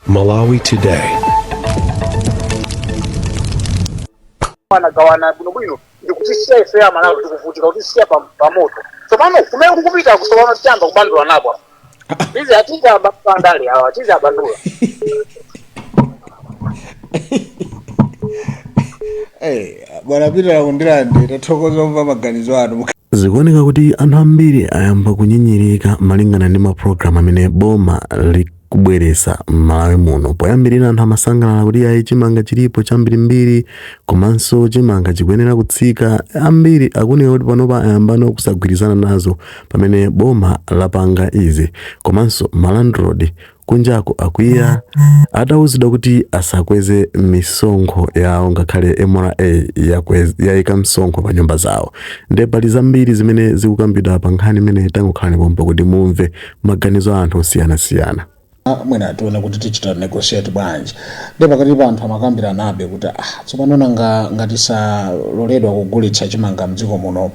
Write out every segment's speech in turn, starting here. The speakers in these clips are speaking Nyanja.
Malawi Today. anagawana bwinobwino ndikutisiya ife amalawi tikuvutika kutisiya pa- pamoto tsopano kumene kukupita kutsopano tiyamba kubandula napo tizi atiza abandula andale awa tizi abandula Eh, bwana peter akundirande tathokoza kumva maganizo anu zikuoneka kuti anthu ambiri ayamba kunyinyirika malingana ndi mapulogalamu amene boma likubweretsa m'malawi muno poyambirira anthu amasangalala kuti ayi chimanga chilipo chambirimbiri komanso chimanga chikuyenera kutsika ambiri akuoneka kuti panopa ayambano kusagwirizana nazo pamene boma lapanga izi komanso malandrodi Kunjako akwiya atauzidwa kuti asakweze misonkho yawo ngakhale mra yaika msonkho pa nyumba zawo. Nde pali zambiri zimene zikukambidwa pa nkhani imeneyi tangokhalani pompa kuti mumve maganizo a anthu osiyanasiyana. Mwina tione kuti tichita negotiate bwanji. Nde pakatipa anthu amakambiranabe kuti ah, tsopano nanga ngati saloledwa kugulitsa chimanga m'dziko muno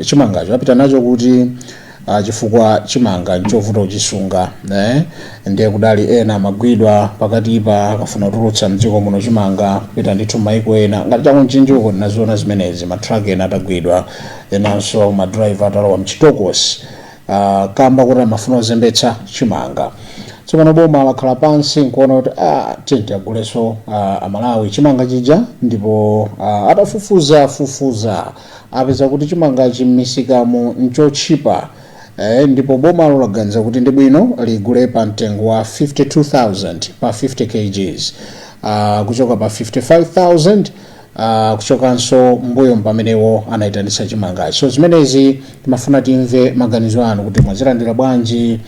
chimangacho apita nacho kuti ah, chifukwa chimanga nchovuta kuchisunga eh? ndiye kudali ena amagwidwa pakatipa akafuna kutulutsa mdziko muno chimanga kupita ndithu maiko ena ngati chakunchinjiko ndinaziona zimenezi matraki ena atagwidwa enanso madraiva atalowa mchitokosi ah, kamba kuti amafuna kuzembetsa chimanga tsopano boma lakhala pansi nkuona kuti ah, tiyeni tiagulenso ah, amalawi chimanga chija ndipo ah, atafufuza fufuza apeza kuti chimangachi m'misikamo n'chotchipa ndipo bomalo laganiza kuti ndi bwino ligule pa mtengo wa 52,000 pa 50 kgs uh, kuchoka pa 55,000 uh, kuchokanso mbuyo m'pamenemo anayitanitsa chimangachi so zimenezi timafuna timve maganizo anu kuti mwazilandira bwanji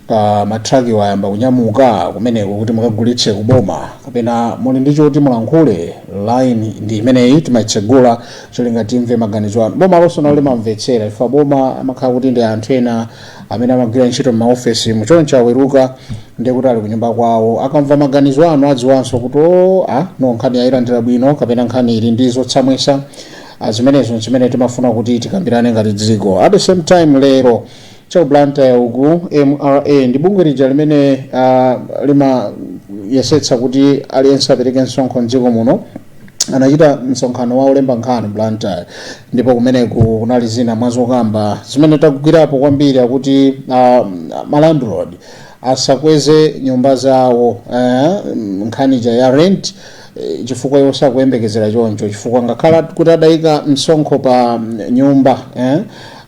pa ma truck wo ayamba kunyamuka kumeneko kuti mukagulitse ku boma kapena muli ndi choti mulankhule line ndi imeneyi timaitsegula cholinga timve maganizo anu boma lonse nalo limamvetsera chifukwa boma amakhala kuti ndi anthu ena amene amagwira ntchito m'maofesi muchonchi aweruka ndiye kuti ali kunyumba kwawo akamva maganizo anu adziwanso kuti oh ayi no nkhani yayilandira bwino kapena nkhani ili ndi zotsamwisa Ah, zimenezo zimene timafuna kuti tikambirane ngati dziko at the same time lero Chaku Blantyre uku mra ndi bungwe lija limene uh, limayesetsa kuti aliyense apereke msonkho mdziko muno anachita msonkhano wa olemba nkhani Blantyre ndipo kumeneko kunali zina mwa zokamba zimene tagwirapo kwambiri akuti uh, malandlord asakweze nyumba zawo uh, nkhani ija ya rent eh, chifukwa iwo sakuyembekezera choncho chifukwa ngakhale kuti adayika msonkho pa mm, nyumba eh,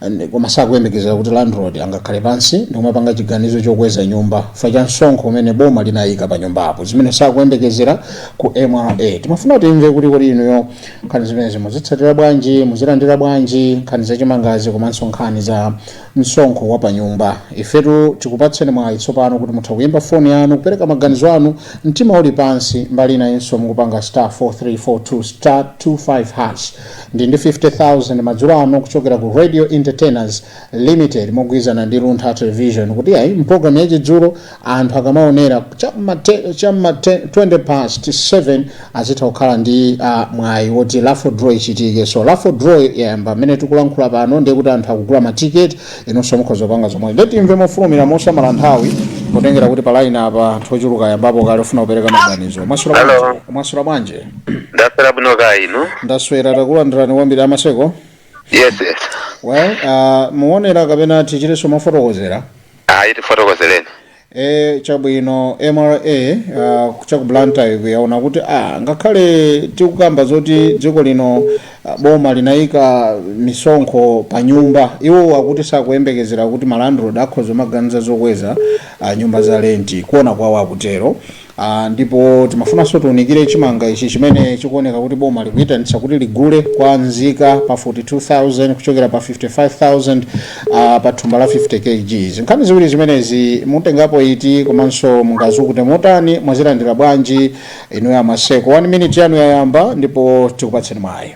and koma sakuyembekezera kuti landlord angakhale pansi ndikumapanga chiganizo chokweza nyumba chifukwa cha msonkho umene boma linayika pa nyumbapo zimene sakuyembekezera ku mra timafuna timve kuti kodi inuyo nkhani zimenezi muzitsatira bwanji muzilandira bwanji nkhani za chimangazi komanso nkhani za msonkho wa pa nyumba ifetu tikupatseni mwayi tsopano kuti mutha kuyimba foni yanu kupereka maganizo anu mtima uli pansi mbali inayinso mukupanga star 4342 star 25 hash ndi ndi 50,000 madzulo ano kuchokera ku Radio Entertainers Limited mogwirizana ndi Luntha Television kuti ayi mpulogalamu ya chidzulo anthu akamaonera cha ma te- cha ma te- 20 past 7 azitha kukhala ndi ah, mwayi woti raffle draw ichitike so raffle draw yayamba mmene tikulankhula pano ndiye kuti anthu akugula matiketi inunso mukhoza kupanga zomwe nde timve mofulumira mosamala nthawi potengera kuti pa laini apa anthu ochuluka ayambapo kale ofuna kupereka maganizo mwaswera Hello. bwanji mwaswera bwanji ndaswera bwino kaya inu ndaswera takulandirani kwambiri a Maseko yes yes well uh, muonera kapena tichitenso mofotokozera ayi tifotokozereni E, chabwino mra uh, cha ku blantyre uku yaona kuti ah, ngakhale tikukamba zoti dziko lino uh, boma linayika misonkho pa nyumba iwo akuti sakuyembekezera kuti malandlord akhoza maganiza zokweza uh, nyumba za lenti kuona kwawo akutero Aaa ndipo timafunanso tiunikire chimanga ichi chimene chikuoneka kuti boma likuitanitsa kuti ligule kwa nzika pa 42000 kuchokera pa 55000 uh, pa thumba la 50 kgs nkhani ziwiri zimenezi mutengapo iti komanso mungazukute motani mwazilandira bwanji inuyo a Maseko 1 minute yanu yayamba ndipo tikupatseni mwayi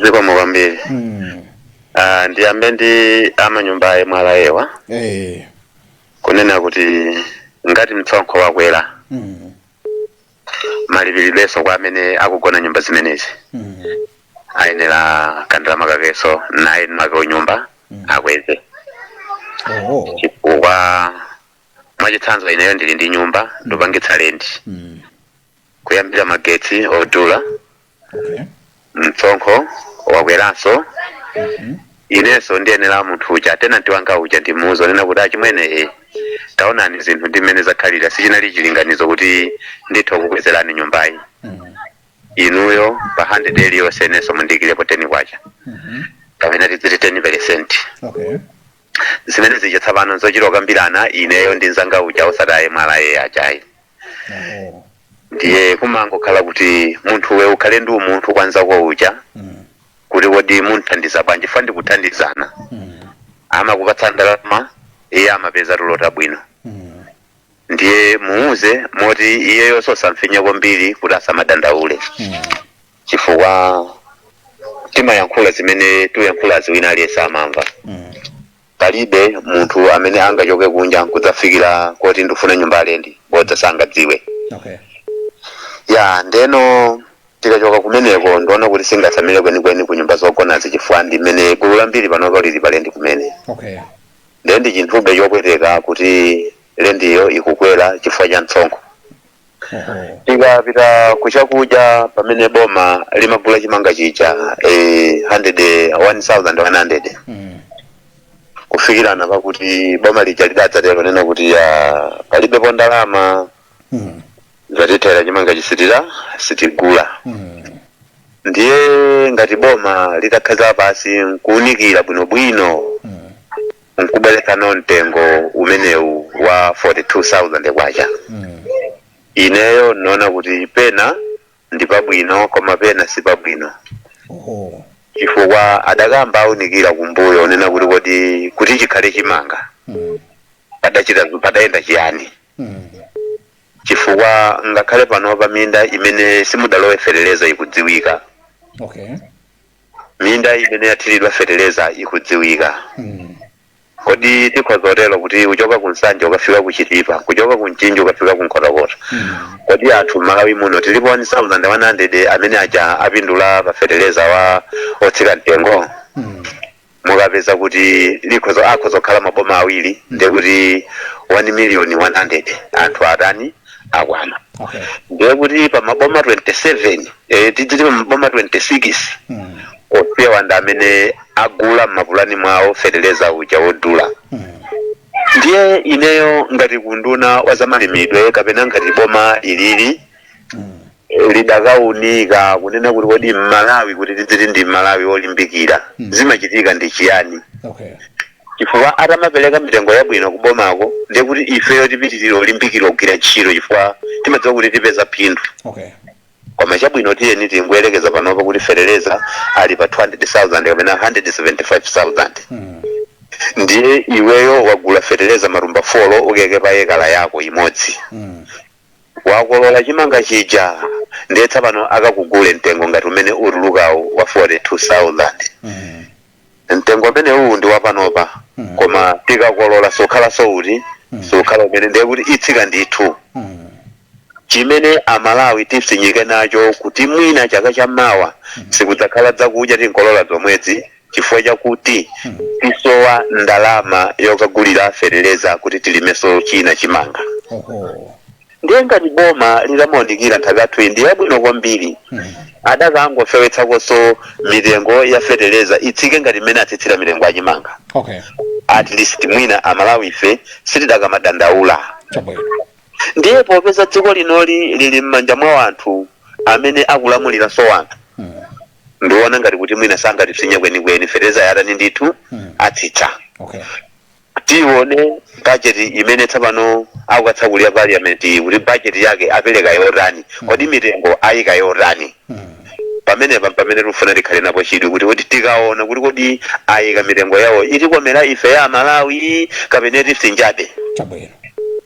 zikomo kwambiri mm. Ah, ndiyambe ndi amanyumba a MRA awa eh kunena kuti ngati msonkho wakwera Mm. malipiridwenso kwa amene akugona nyumba zimenezi Mm. ayenera kandalama kakenso naye mwake wa nyumba akweze Oh. chifukwa mwachitsanzo ineyo ndili ndi nyumba ndikupangitsa lendi Mm. kuyambira magetsi odula okay msonkho wakweranso Mhm. inenso ndiyenera munthu uja tenanti wanga uja ndimuuze kunena kuti achimwene e taonani zinthu ndi mmene zakhalira sichinali chilinganizo kuti nditha kukwezerani nyumbayi Mhm. inuyo pa 100 iliyonse inenso mundikirepo 10 kwacha Mhm. kapena tidziti 10 peresenti okay zimene zija tsopano zochita kukambirana ineyo ndi mzanga uja osati a MRA aja ayi Oho. ndiye kumangokhala kuti munthuwe ukhale ndi umunthu kwa nzako uja Mm. kuti kodi mumthandiza bwanji fa ndikuthandizana Mm. amakupatsa ndalama iye amapeza tulo tabwino Mm. ndiye muuze moti iyeyonso osamfinya kwambiri kuti asamadandaule Mm. chifukwa timayankhula zimene tikuyankhulazi wina aliyense amamva palibe munthu amene angachoke kunja nkudzafikira kuti ndifuna nyumba ya lendi bodza sangadziwe okay ya ndeno tikachoka kumeneko ndiona kuti singatsamire kwenikweni ku nyumba zogonazi chifukwa ndi mmene gulu lambiri panopa lili palendi kumene okay ndiye ndi chinthube chopweteka kuti lendiyo ikukwera chifukwa cha msonkho tikapita kuchakudya pamene boma limagula chimanga chija eh, 100 1100 Mm. kufikirana pakuti boma lija lidadzatero kunena kuti ah, palibepo ndalama Mm. zatithera chimanga chisitira sitigula Mm. ndiye ngati boma litakhala pansi nkuunikira bwinobwino Mm. nkubweretsano mtengo umenewu wa 42000 kwacha ineyo ndaona kuti pena ndi pabwino koma pena si pabwino oho chifukwa adakayamba aunikira kumbuyo kunena kuti kodi kuti chikhale chimanga Mm. padachita padayenda chiyani Mm. chifukwa ngakhale pano paminda imene simudalowe feteleza ikudziwika okay minda imene yathiridwa feteleza ikudziwika kodi tikhoza kutero kuti kuchoka ku nsanje ukafika ku chitipa kuchoka ku mchinji ukafika ku nkhotakota kodi anthu mMalawi muno tilipo 1100 amene aja apindula pa feteleza wa otsika mtengo mupeza kuti likhoza akhoza kukhala maboma awiri ndiye kuti 1 million 100 anthu atani akwana Okay. ndiye kuti pa maboma 27 eh, tidziti pa maboma 26 Mm. osewa ndi amene agula mmapulani mwawo feteleza uja wodula Mm. ndiye ineyo ngati ku unduna wa zamalimidwe kapena ngati boma ilili eh, lidakaunika kunena kuti kodi mmalawi kuti tidziti ndi mmalawi olimbikira zimachitika ndi chiyani okay chifukwa akamapereka mitengo yabwino kubomako ndiye kuti ifeyo tipitirire kulimbikira kugwira ntchito chifukwa timadziwa kuti tipeza phindu okay koma chabwino tiyeni tingoyerekeza panopa kuti feteleza ali pa 200,000 kapena 175,000 mm. ndiye iweyo wagula feteleza matumba 4 ukaike pa ekala yako imodzi mm. Wakolola chimanga chija ndiye tsapano akakugule mtengo ngati umene utulukawu wa 42000 mtengo umenewuwu ndi wapanopa koma tikakolola sukhalanso uti sukhala umenewu ndiye kuti itsika ndithu chimene amalawi tipsinyike nacho kuti mwina chaka cha mawa sikudzakhala zakudya tinkolola zomwezi chifukwa chakuti tisowa ndalama yokagulira fetereza kuti tilimeso china chimanga oho ndiye ngati boma lidamaunikira nthaka yathu iyi ndi yabwino kwambiri adakangofewetsakonso mitengo ya fetereza itsike ngati mmene atsitsira mitengo ya chimanga okay at least mwina amalawi ife sitidakamadandaula chabwino ndiye popeza dziko linoli lili m'manja mwa anthu amene akulamuliranso anthu ndiona ngati kuti mwina sangatipsinje kwenikweni fertilizer yatani ndithu atsitsa okay tione budget imene tsopano akukatsakulira parliament kuti budget yake apereka yotani kodi mitengo ayika yotani pamenepa pamene tikufuna tikhale napo chidwi kuti kodi tikaona kuti kodi ayika mitengo yawo itikomera ife amalawi kapena atipsinjabe chabwino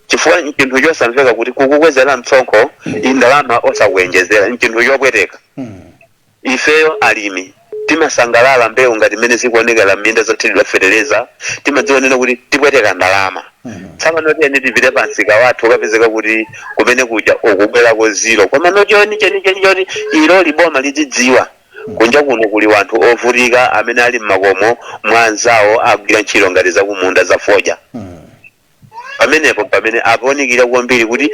chifukwa nchinthu chosamveka kuti kukukwezera mtsonkho ndalama osakuyenjezera nchinthu chopweteka Ifeyo alimi timasangalala mbewu ngati mmene zikuonekera m'minda zothiridwa fetereza, timadziwa kunena kuti tipweteka ndalama. Tsopano tiyeni tipite pamsika wathu ukapezeka kuti kumene kuja ukubwerako zero. Komano choona chenicheni choti iloli boma lidzidziwa, kunja kuno kuli wanthu ovutika amene ali m'makomo mwa anzawo agwira ntchito ngati zakumunda za fodya. pamenepo pamene aunikire kwambiri kuti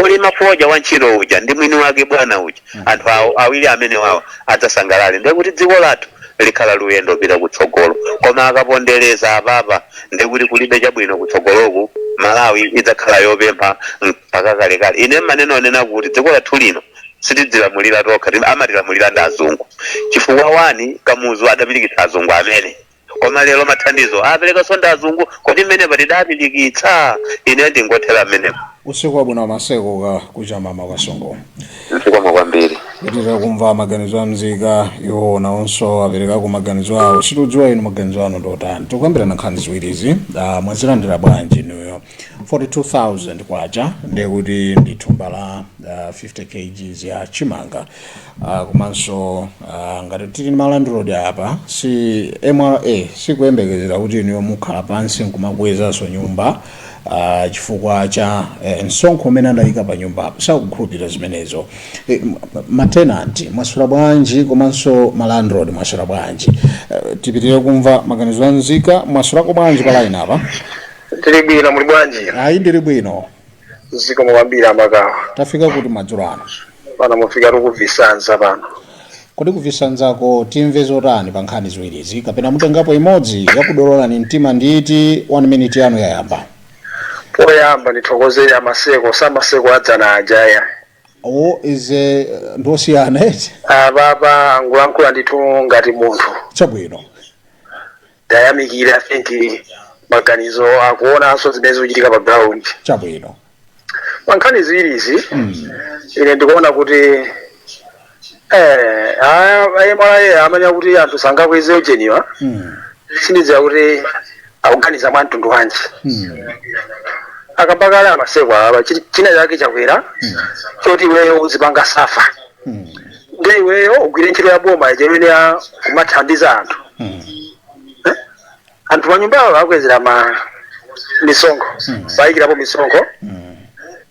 olima fodya wa ntchito uja ndi mwini wake bwana uja anthu awiri amene wawo adzasangalale ndiye kuti dziko lathu likhala likuyenda kupita kutsogolo koma akapondereza apapa ndiye kuti kulibe chabwino kutsogoloku malawi idzakhala yopempha mpaka kalekale ine mmanena kunena kuti dziko lathu lino sitidzilamulira tokha tim- amatilamulira ndi azungu chifukwa wani kamuzu adapirikitsa azungu amene koma lero mathandizo aperekanso ndi azungu kodi mmenepo tidapirikitsa ine ndingothera mmenepo usiku wabwino maseko ka kuchama kwa songo zikomo kwambiri tipitire kumva maganizo a mzika iwo nawonso aperekako maganizo awo sitikudziwa inu maganizo anu ndotani tikukambirana nkhani ziwirizi ah, mwazilandira bwanji inuyo 42000 kwacha ndekuti ndi thumba la ah, 50 kgs ya chimanga Uh, komanso uh, ngati tili ndi ma landlord apa mra sikuyembekezera kuti inuyo mukhala pansi nkumakwezanso nyumba uh, chifukwa cha eh, msonkho umene adayika pa nyumba apo sakukhulupirira zimenezo eh, matenanti mwaswera bwanji komanso ma landlord mwaswera bwanji uh, tipitire kumva maganizo a nzika mwaswerako bwanji pa line apa tili bwino muli bwanji ayi ndili bwino zikomo kwambiri amakawa tafika kuti madzulo ano pano mufika tikuzisanza pano kodi kuzisanzako timve zotani pa nkhani ziwirizi kapena mutengapo imodzi yakudololani mtima ndi iti 1 minute yanu yayamba poyamba ndithokozere amaseko si amaseko adzana ajawa awa izi ndosiyana eti apapa angulankhula ndithu ngati munthu chabwino tayamikira i think maganizo akuonanso zimene zikuchitika pa ground chabwino pa nkhani ziwiri izi ine ndikuona kuti eh, a- a- mra amanena kuti anthu sangakweze ujeniwa Mm, sindidziwa kuti akuganiza mwa mtundu wanji mm, akamba kale amaseko apa chi- china chake chakwera choti iweyo uzipanga safa mm, nde iweyo ugwire ntchito ya boma ija imene ya kumathandiza anthu Eh? anthu manyumbawo akwezera ma misonkho awayikirapo misonkho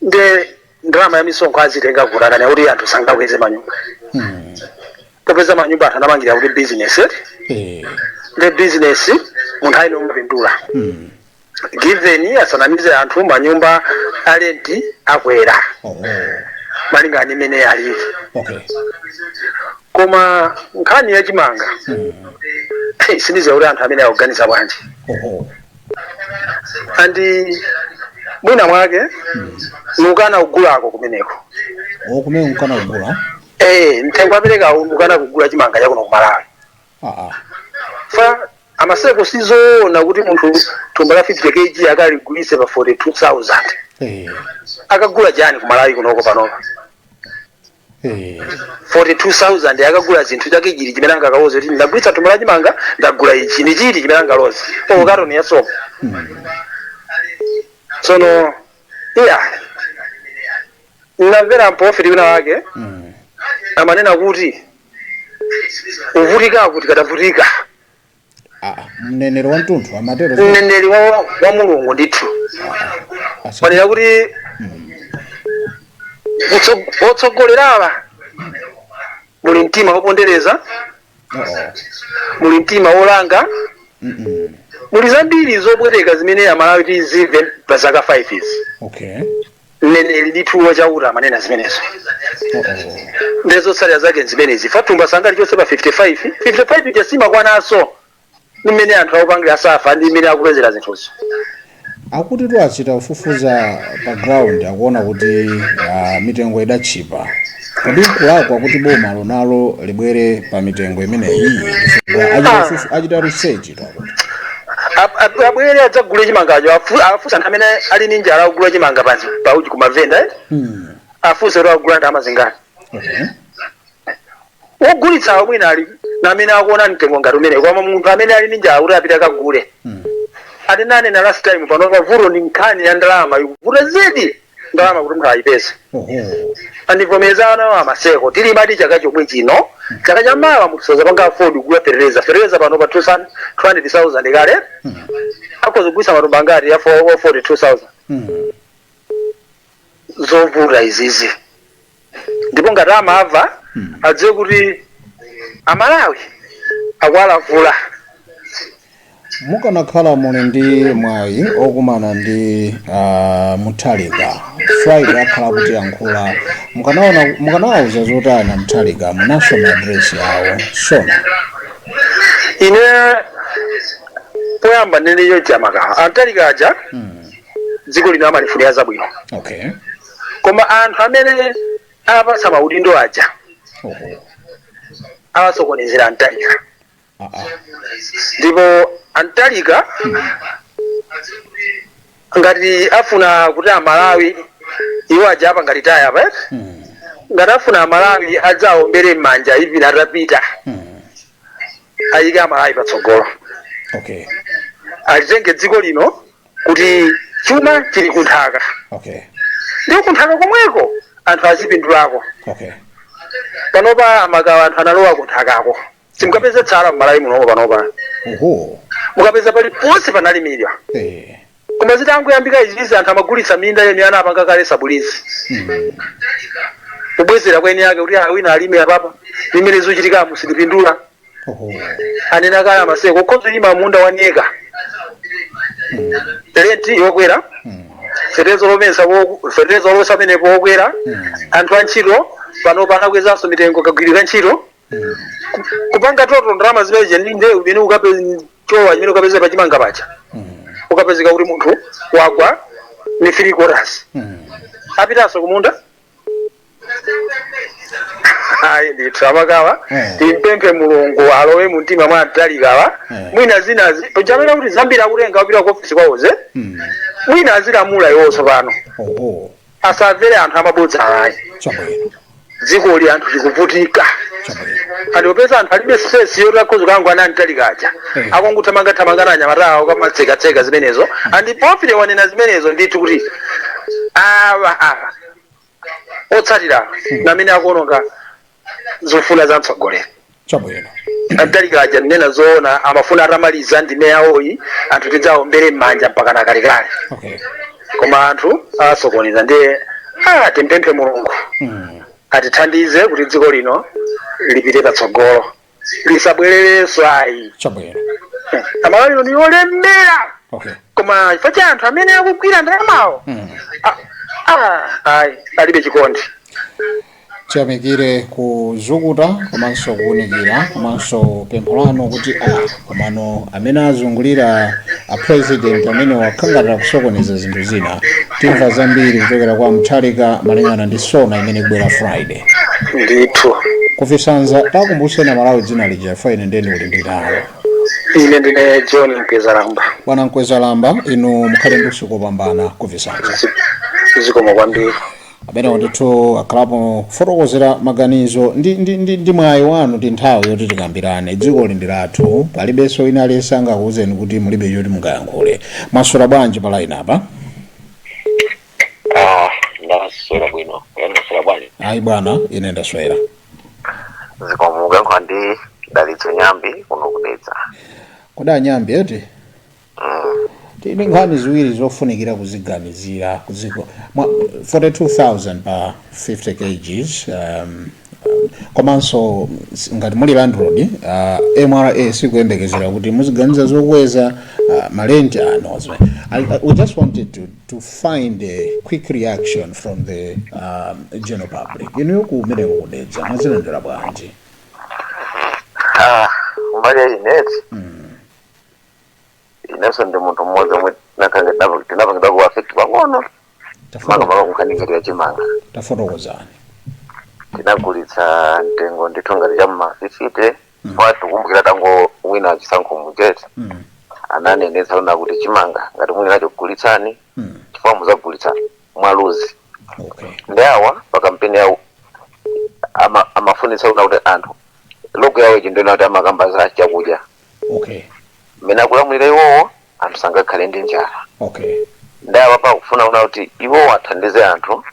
nde ndalama ya misonkho azitenga kuti akukana kuti anthu sangakweze manyumba popeza manyumba anthu anamangira kuti business eh? Eh, nde business munthu aliyense umapindula given asanamalize anthu manyumba a rent akwera oh, malingana ndi mmene alili okay koma nkhani ya chimanga hey, sindiziwa kuti anthu amene akuganiza bwanji oho andi mwina mwake mukana kugulako kumeneko kumene mukana kugula eh mtengo apereka mukana kugula chimanga chakuno ku malawi chifukwa amaseko si zoona kuti munthu thumba la 50 kg akaligulise pa 42000 akagula chani ku malawi kunoko panopa 42000 akagula chinthu chake chili chimene angakaloze kuti ndagulitsa thumba la chimanga ndagula ichi ndi chili chimene angaloze o katoni ya sopo tsono ine ndinamvera mprofeti wina wake amanena kuti kuvutikaku tikadavutika Ah, ah, mneneri wa mtundu amatero zinthu. mneneri wa, wa mulungu ndithu Asa- amanena kuti utso- otsogolerawa muli mtima wopondereza Oh, oh. muli mtima wolanga Mm-mm. muli zambiri zopweteka zimene amalawi tizimve pa zaka 5 izi okay mneneri ndithu wa chauta amanena zimenezo ndi zotsatira zake zimenezi chifukwa thumba sangali chonse pa 55 55 ija simakwananso ndi mmene anthu akupangira safa ndi mmene akupezera zinthuzo akutitu achita kufufuza pa ground akuona kuti ah, mitengo idatchipa kodi nkulakwa kuti boma lonalo libwere pa mitengo imeneyi chifukwa achita kufufu- achita research Ab- ab- abwere adzagule chimangacho afu- afunse anthu amene ali ndi njala akugula chimanga pansi pauchi kumavenda eh? Mm. afunse kuti akugula ndalama zingati Okay. wogulitsawo mwina ali namene akuona mtengo ngati umene koma munthu amene ali ndi njala kuti apite akagule Mm. atinanena last time panopa vuto ndi nkhani ya ndalama ikuvuta zedi ndalama kuti munthu ayipeze andivomereza anawa amaseko tilimadi chaka chomwe chino chaka cha mawa munthu sazapanga afford kugula fertilizer fertilizer panopa 2000 200000 kale akhoza kugulitsa matumba angati ya 4- 42000 zovuta izizi ndipo ngati amava adziwe kuti amalawi akuwalavula mukanakhala muli ndi mwayi okumana ndi uh, mutharika friday akhala akutiyankhula mukanaona- mukanawauza zotani a mutharika mu national address yawo sona ine poyamba ndindiyo amakawa a mutharika aja dziko lino amalifunira zabwino okay koma anthu amene apatsa maudindo aja awasokonezera a mutharika ndipo a mutharika ngati afuna kuti amalawi iwo aja apanga retire apa eti? ngati afuna amalawi adzaombere m'manja even atapita ayike amalawi patsogolo okay alitenge dziko lino kuti chuma chili kunthaka okay ndiye kunthaka komweko anthu azipindulako okay panopa amakawa anthu analowa kunthakako simukapeza tsala mmalawi munomo panopa oho mukapeza paliponse panalimidwa eh koma zitangoyambika izizi anthu amagulitsa minda ena anapanga kale sublease mm. kubwezera kwa eni ake kuti awina alime apapa ndi mmene zikuchitikamu sitipindula anena kale amaseko ukhoza kulima munda one acre rent yokwera fertilizer wo- fertilizer amenepo wokwera anthu a ntchito panopa anakwezanso mitengo kagwiridwe ka ntchito Ku- kupanga total ndalama zimene zija ndi ndewu imene ukapeza chowa imene ukapeza pachimanga paja ukapezeka kuti munthu wagwa ni three quarters apitanso kumunda ayi ndithu amakawa Eh. timpemphe mulungu alowe mu mtima mwa a mutharikawa Eh. mwina zinazi paja amanena kuti zambiri akutenga kupita ku ofisi kwawoze Mm. mwina azilamula iwo tsopano Oho. asamvere anthu amabodza ayi Chabwino. dzikoli anthu tikuvutika Chabwino. andipeza anthu alibe stress yoti akhoza kukangana ndi mutharika aja Eh. akungothamangathamanga ndi anyamata awo kumatsekatseka zimenezo and pofile wanena zimenezo ndithu kuti awa awa otsatira amene akuwononga zofuna za mtsogoleri chabwino Mutharika aja ndinene zoona amafuna atamaliza ndime yawoyi anthu tidzaombere m'manja mpaka nakalekale okay koma anthu asokoneza ndiye ah, timpemphe mulungu mm. atithandize kuti dziko lino lipite patsogolo lisabwererenso ayi chabwino Malawi ino ndi yolemera okay koma chifukwa cha anthu amene akugwira ndalamawo mm. ah, ah, ayi alibe chikondi tiyamikire kuzukuta komanso kuwunikira komanso pempho lanu kuti ah, Komano amene azungulira a president amenewa akhala ngati akusokoneza zinthu zina. Timva zambiri kuchokera kwa Mutharika malingana ndi SONA imene ikubwera Friday. ndithu Ku Visanza takumbuseni amalawi dzina lija chifukwa ine ndiye ndikuti ndili nalo. ine ndine John Mkwezalamba Bwana Mkwezalamba inu mukhale ndi usiku wopambana ku Visanza. zikomo kwambiri ameneyo ndithu akhalapo kufotokozera maganizo ndi, ndi, ndi, ndi mwayi wanu ndi nthawi yoti tikambirane dzikoli ndi lathu palibenso wina aliyense angakuwuzeni kuti mulibe choti mungayankhule mwaswera bwanji pa line apa Ah, ndaswera bwino mwaswera bwanji ayi bwana ine ndaswera zikomo mukuyankhula ndi Dalitso Nyambi kuno ku Dedza kodi a Nyambi eti Tili ndi nkhani ziwiri zofunikira kuziganizira ku dziko mwa 42,000 pa 50 kgs um, komanso s- ngati muli landlord uh, MRA sikuyembekezera kuti muziganiza zokweza uh, marenti anu zimene. I, I, we just wanted to, to find a quick reaction from the um, general public inuyo kumeneko ku Dedza mwazilandira bwanji Ah, mbali ya ine eti inenso ndi munthu mmodzi omwe ndinakhala tinapa- tinapangidwa ku affect pang'ono Tafoto- makamaka ku nkhani ngati ya chimanga tafotokozani tinagulitsa mtengo ndithu ngati cha m'ma fifite ngati mukukumbukira atangowina chisankho muja eti Mm, ananenetsa kunena kuti chimanga ngati muli nacho gulitsani mm, chifukwa muzagulitsa mwa luzi okay ndiye awa pa kampeni yawo ama- amafunitsa kunena kuti anthu logo yawo ichitu ndikuona kuti amakamba za chakudya okay mmene akulamulira iwowo anthu sangakhale ndi njala okay ndiye apapa akufuna kunena kuti iwowo athandize anthu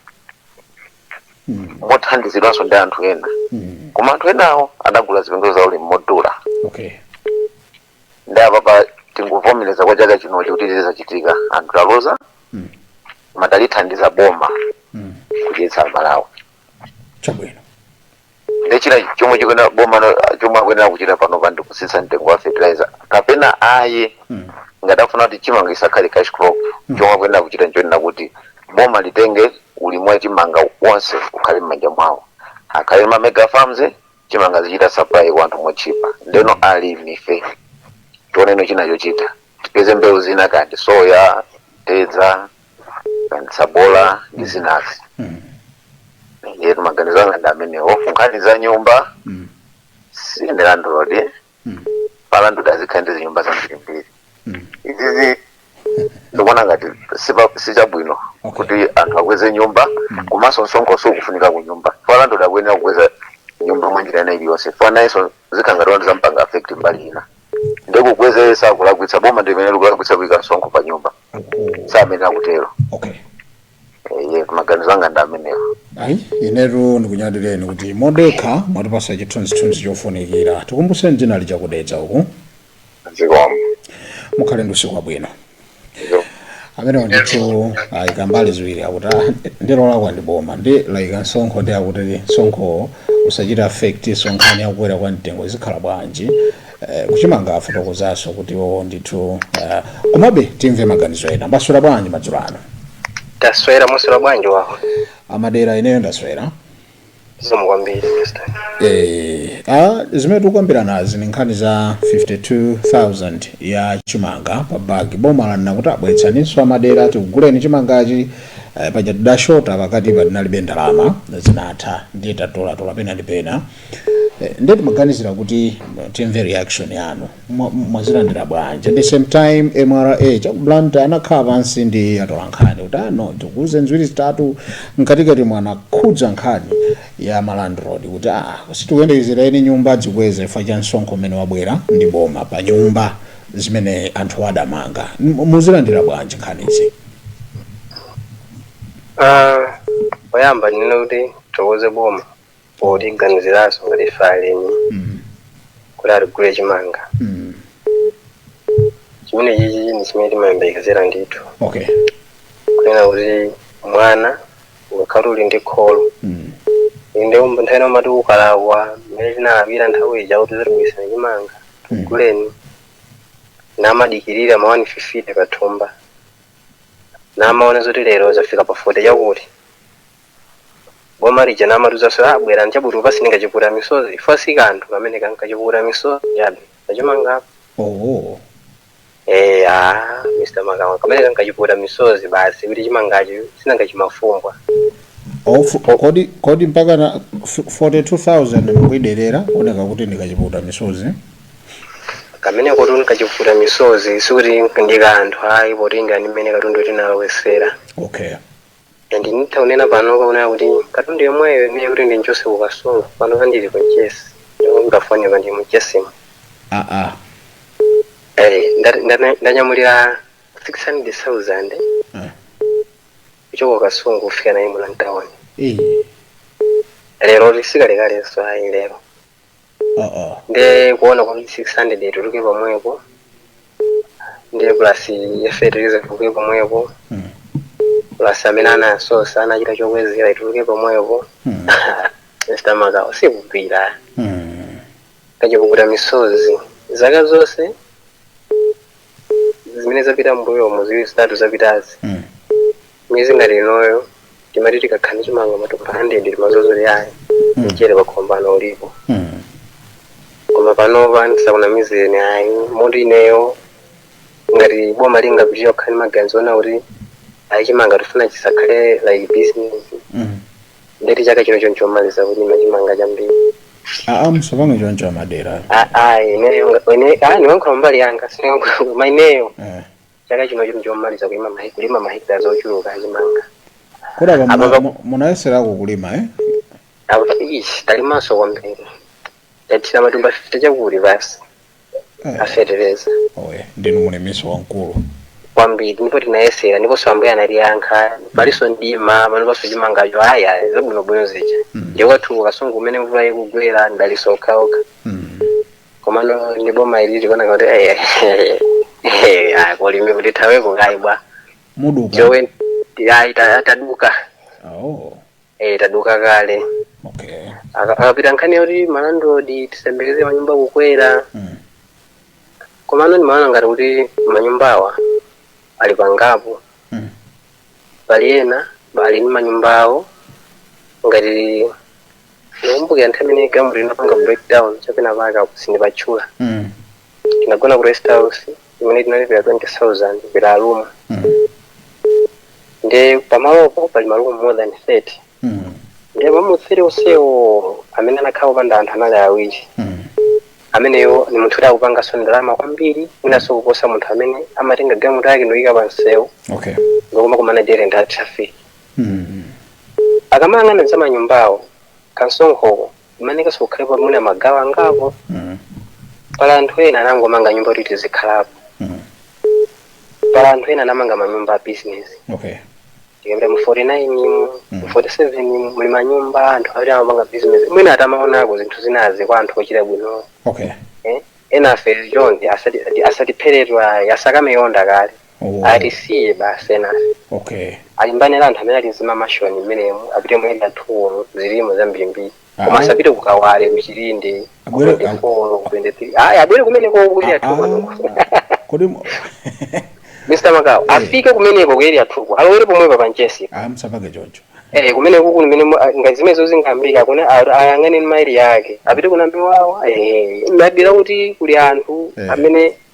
mm. mothandizidwanso ndi anthu ena Mm. koma anthu enawo adagula zipangizo za ulimi modula okay ndiye apapa tingovomereza kwa chaka chinochi kuti zachitika anthu taluza Mm. koma talithandiza boma Mm. kudyetsa Amalawi chabwino nde chinthu chomwe chikuyenera boma no- chomwe akuyenera kuchita pano pa ndikutsitsa mtengo wa fertilizer kapena ayi ngati afuna kuti chimanga chisakhale cash crop chomwe akuyenera kuchita nchonena kuti boma litenge ulimi wa chimanga wonse ukhale m'manja mwawo akhale ma mega farms chimanga zichita supply kwa anthu motchipa ndeno alimi ife tioneno china chochita tipeze mbewu zina kandi soya mtedza tsabola ndi zinazi ndiye maganizo anga ndi amenewo kunkhani za nyumba sine landlord fa landlord azikhala ndi zinyumba zambirimbiri izizi ndikuona ngati sipa- sichabwino Okay. kuti anthu akweze nyumba komanso msonkho sukufunika ku nyumba fa landlord akuyenera kukweza nyumba mwa njira ina iliyonse fa nayenso zikhala ngati zampanga affect mbali ina nde kukweza sakulakwitsa boma ndi limene likulakwitsa kuika msonkho pa nyumba si amene akutero okay eee maganizo anga ndi amenewo ayi inetu ndikunyadileni kuti modekha mwatipatsa chithunzithunzi chofunikira tikumbuseni dzina Licha ku Dedza uku zikomo mukhale ndi usiku wabwino Zikomo. amene wandithu ayika mbali ziwiri akuti "Ah, ndilolakwa ndi boma nde layika msonkho nde akuti msonkho usachite affectso nkhani yakukwera kwa mtengo izi zikhala bwanji Eh, kuchimanga afotokozanso kuti iwo ndithu eh, komabe timve maganizo ena mwaswera bwanji madzulo ano taswera mwaswera bwanji wawa a Madela ineyo ndaswera zikomo kwambiri mr Eh, ah, zimene tikukambiranazi ni nkhani za 52000 ya chimanga pa bagi boma lanena kuti ah bweretsaninso a Madela tikuguleni chimangachi eh, paja tidashota pakatipa tinalibe ndalama zinatha ndiye tatolatola pena ndi pena eh, ndiye timaganizira kuti eh, timve reaction yanu mwazilandira bwanji at the same time mra cha ku Blantyre anakhala pansi ndi atolankhani kuti ah no tikuuzeni ziwiri zitatu mkatikatimo anakhudza nkhani ya malandlord kuti ah sitikuyembekezera eni nyumba azikweze chifukwa cha msonkho umene wabwera ndi boma pa nyumba zimene anthu adamanga M- muzilandira bwanji nkhanizi Ah, poyamba ndinene kuti tithokoze boma potiganiziranso ngati ife alimi kuti atigule chimanga chimene chichi ndi chimene timayembekezera ndithu okay kunena kuti mwana ukakhala uli ndi kholo inde nthawi ina umati ukalapa mmene tinalapira nthawi ija kuti tizibweretsa chimanga tiguleni namadikirira ma 150 pathumba namaona zoti lero zafika pa 40 chakuti boma lija limatiuzanso ah bwerani chabe tikupatseni kachipukuta misozi ife si kanthu kameneka nkachipukuta misozi chabe kachimangapo oh Eh, ah, Mr. Magawa, kameneka nkachipukuta misozi basi kuti chimangacho sinanga chimafumbwa. Ofu, kodi kodi mpaka na f- 42000 mukuiderera kunena kuti ndi kachipukuta misozi Kamene kuti ndi kachipukuta misozi sikuti ndi kanthu ayi potengana ndi mmene katundu tinalowesera. okay and nditha kunena panopa kunena kuti katundu yemweyo imene kuti ndimchotse ku kasungu panopa ndili ku mchesi ndipo mutafonera ndi mchesimo aa Eh, nda- nda- ndanyamulira 600000 Ah. kuchoka kasungu kufika naye muno mtaoni ee leroli si kalekalenso ayi lero nde kuona kuti 600 ituluke pomwepo ndiye plus ya fetereza ituluke pomwepo plus amene anasosa anachita chokwezera ituluke pomwepo mr magawa sikugwira kachipukuta misozi zaka zonse zimene zapita mbuyomo ziwiri zitatu zapitazi mwezi ngati inoyo timati tikakhala ndi chimanga matumba 100 timadziwa zoti ayi mchere pakhomo pano ulipo Mm. koma panopa ndisakunamizeni ayi moti ineyo ngati boma lingapitirire kukhala ndi maganizo onena kuti ayi chimanga tifuna chisakhale like business Mm. nde kuti chaka chinochi nchomaliza kulima chimanga chambiri aa musapange choncho amadera A- ayi ineyo nga- ine- ayi ndikuyankhula mbali yanga sindikuyankhula koma ineyo Eh. chaka chinochi ndi chomaliza kulima mahe- kulima mahekitala ochuluka achimanga kodi apa Apa muna- pa- mu- munayeserako kulima eh? akuti ichi talimanso kwambiri tathira matumba 50 chakuti basi Eh, a fetereza oye ndinu mulimi nso wamkulu kwambiri ndipo tinayesera ndiponso ambuye anatiyankha palinso ndima panopanso chimangacho aya zabwinobwino zija Mm. ndi kwathu kasungu mmene mvula ikugwera madalitso okhaokha Mm. komano ndi boma ili tikuona ngati kuti eh, eh, eh, ah, kuulimiku tithaweko kaye bwa muduka jowe ayi ta- taduka oh eh, taduka kale okay Aka- akapita nkhani yoti ma landlord tiziyembekeza manyumba kukwera mm. komano ndimaona ngati kuti manyumbawa ali pangapo Mm. pali ena ali ndi manyumbawo ngati Ndikumbukira nthawi imene galimoto inapanga breakdown cha penapake apo sindipatchula. Mm. Tinagona ku rest house imene tinalipira 20,000 per room. Mm. Nde pamalopo pali malumu more than 30. Mm. Nde malumu 30 onsewo amene anakhala kupanda anthu anali awiri. Mm. ameneyo ni munthu oti akupanganso ndalama kwambiri mwinanso kuposa munthu amene amatenga galimoto yake nkuyika pansewu Okay. ndikumakumana dere ndi a traffic akamayang'ana za manyumbawo kamsonkhoko imafunika kukhalapo mwina magawo angapo pali anthu ena anangomanga nyumba kuti tizikhalapo pali anthu ena anamanga manyumba a business okay tikapita mu 49 mu mu 47 mo muli manyumba anthu amene amapanga business mwina atamaonako zinthu zinazi kwa anthu ochita bwino okay eh? ena afe chonde asati asatiphere aah tsakame yonda kale Oh, atisiye basi enafe okay alimbane ndi anthu amene ali ndi zimamashoni mmenemu apite mu Area 2-wo zilimo zambirimbiri Ah. koma asapite ku Kawale ku Chilinde Abwere- 24 23 ayi abwere kumeneko ku Area Ah, 2-ko ah. kodi mu- mr Magawa afike kumeneko ku Area 2-ko alowere pomwepa pa Mchesi ah, msapake choncho Eh, kumene kuku nimene mu- ah, ngati zimenezo zingapitike kuti a- ayang'ane Area yake apite ku Namiwawa eh, mabira kuti kuli anthu Eh. amene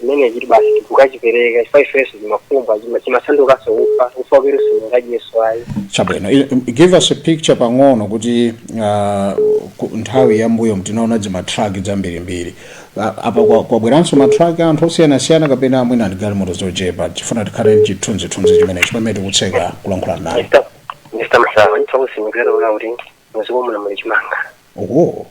Chimene tikuti basi tikukachipereka chifukwa ifenso chimafumbwa chima- chimasandukanso ufa ufa waketu sungadyenso ayi chabwino I- um, give us a picture pang'ono kuti uh, ku- nthawi yambuyo timaona dzimatraki dzambirimbiri uh, apa kwa- kwabweranso matraki anthu osiyanasiyana kapena mwina ndi galimoto zochepa tifuna tikhale ndi chithunzithunzi chimenechi pamene tikutseka kulankhula naye Mr. Mr. Magawa ndi kutsimikizira kuti muziko muno muli chimanga oh.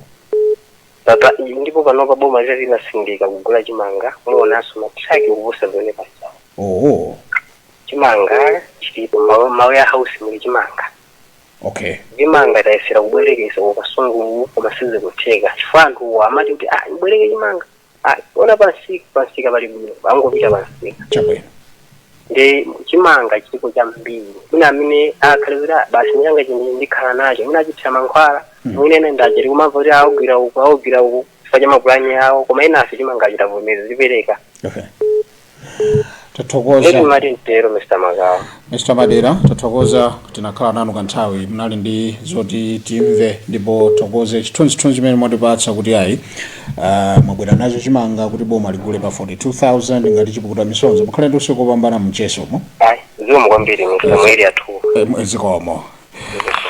Papa, ndipo panopa boma litati latsindika kugula chimanga, muonanso ma truck kuposa zimene pasawo. Oh, Chimanga chilipo ma ma warehouse muli chimanga. okay. Chimanga tayesera kubwereketsa ku Kasungu koma sizikutheka. Chifukwa anthu amati akati ah ndibwereke chimanga. Ah, aona pamsika pamsika pali bwino. Angopita pamsika. Chabwino. nde chimanga chilipo chambiri mwina amene akhale kuti "Ah, basi changa chimene ndikhala nacho mwina achithira mankhwala mwina ena nde aja tikumamva kuti augwira uku augwira uku chifukwa cha mapulani awo koma enafe chimanga tavomereza tizipereka okay nde tathokoza potero mr Magawa mr Madera tathokoza tinakhala nanu kanthawi munali ndi zoti timve ndipo tithokoze chithunzithunzi chimene mwatipatsa kuti ayi Uh, mwabwera nacho chimanga kuti boma ligule pa 42000 ngati chipukuta misozi mukhale ndi usiku opambana mchezomo ayi zikomo kwambiri omvera athu Em, zikomo